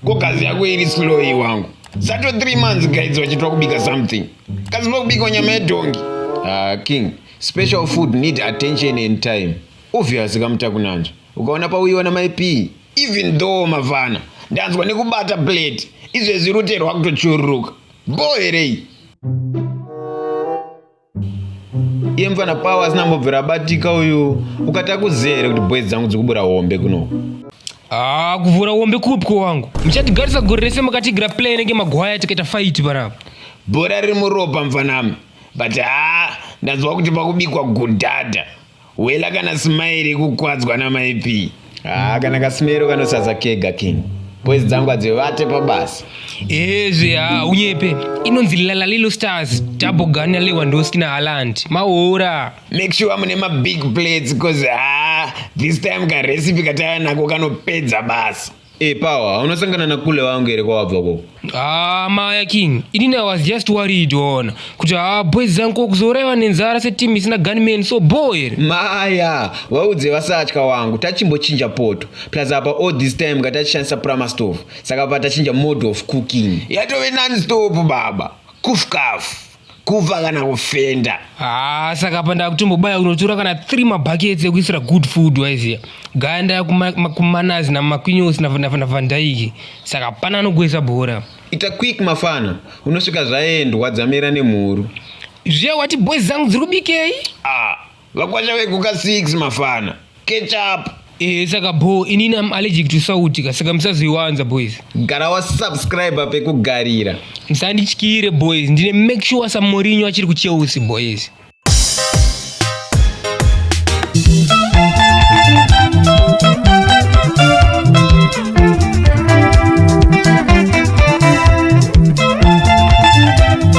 Ko kazi yako iri slow iyi wangu. Zato 3 months guys vachitwa kubika something. Kazi vakubika nyama yedhongi. Ah king, special food need attention and time. Obvious kamutakunanzva. Ukaona pauiona my P, even though mavana ndanzwa nekubata plate. Izvezvi rute rwakutochururuka. Boherei. iye mfana pawa asina mbobvira abatika uyu ukata kuziya here kuti boys dzangu dzikubura hombe kuno haa ah, kuvhura hombe kupi ko wangu muchatigarisa gore rese makatigira play nenge magwaya tikaita faiti panapa bhora riri muropa mfanami but haa ndanzwa kuti pakubikwa gudhadha Wela kana smile kukwadzwa na maipi. Ah kana kasimero kanosaza kega king. Boys dzangu adzivate pabasa. Ezvi ha ah, unyepe inonzi Lala Lilo Stars double gun ya Lewandowski na Haaland. Maora. Make sure mune ma big plates cause ah this time ka recipe katava nako kanopedza basa. Hey, eh, Power, unasangana na kule wangu here kwawabva koko? Ah, Maya King, ini I was just worried ona kuti ah boys zangu kuzorewa nenzara se team isina gunman so boy. Maya, waudze vasatya wangu tachimbochinja poto. Plus apa all this time ngatachishandisa prama stove. Saka patachinja mode of cooking. Yatove non stop baba. Kuf kaf. kuva kana kufenda haa saka apa ndakutombobaya kunotora kana three mabhakets ekuisira good food waiziya gaya ndaya kumanazi namakwinyosi navandaiki saka pana anogwesa bhora ita quick mafana unosvika zvaendwa dzamira nemhuru zviya wati boys dzangu dziri kubikei ah. Vakwasha veguka 6 mafana. Catch up. Eh, saka bho inini am allergic to sauti ka saka musazoiwanza boys gara wasubscribe pekugarira musandityire boys ndine make sure samorinyo achiri kucheusi boys